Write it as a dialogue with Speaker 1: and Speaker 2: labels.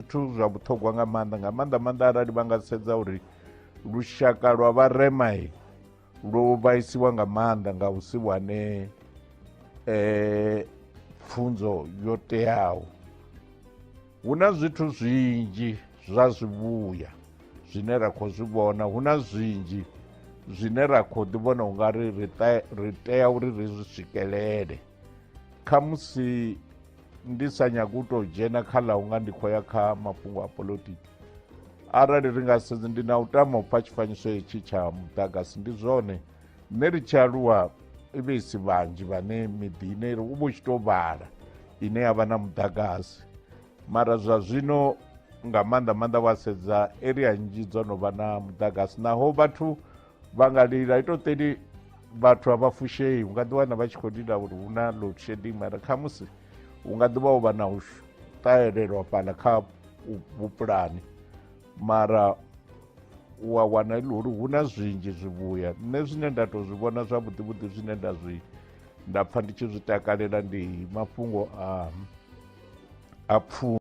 Speaker 1: zwithu zwa vhuṱhogwa nga maanḓa nga maanḓa maanḓa arali vha nga sedza uri lushaka lwa vharema lwo vhaisiwa nga maanḓa nga u si wane um pfunzo yo teaho hu na zwithu zwinzhi zwa zwivhuya zwine ra khou zwi vhona hu na zwinzhi zwine ra khou ḓi vhona u nga ri ri tea uri ri zwi swikelele khamusi ndi sa nyagi u tou dzhena kha ḽa unga ndi khou ya kha mafhungo a politiki arali ri nga sedzi ndi na u tama u pfa tshifanyiso hetshi tsha muḓagasi ndi zwone nṋe ri tshi aluwa i vhe i si vhanzhi vhane miḓini iri u vha u tshi tou vhala ine ya vha na muḓagasi mara zwa zwino nga maanḓa maanḓa wa sedza area nnzhi dzo no vha na muḓagasi naho vhathu vha nga lila ito teni vhathu a vha fushei u nga ḓiwana vha tshi khou lila uri hu na load shedding mara khamusi hu nga ḓivha u vha na u ṱahelelwa fhala kha vhupulani mara u a wana ili uri hu na zwinzhi zwivhuya nṋe zwine nda tou zwi vhona zwavhuḓi vhuḓi zwine nda zwi nda pfha ndi tshi zwi takalela ndi mafhungo a a pfhu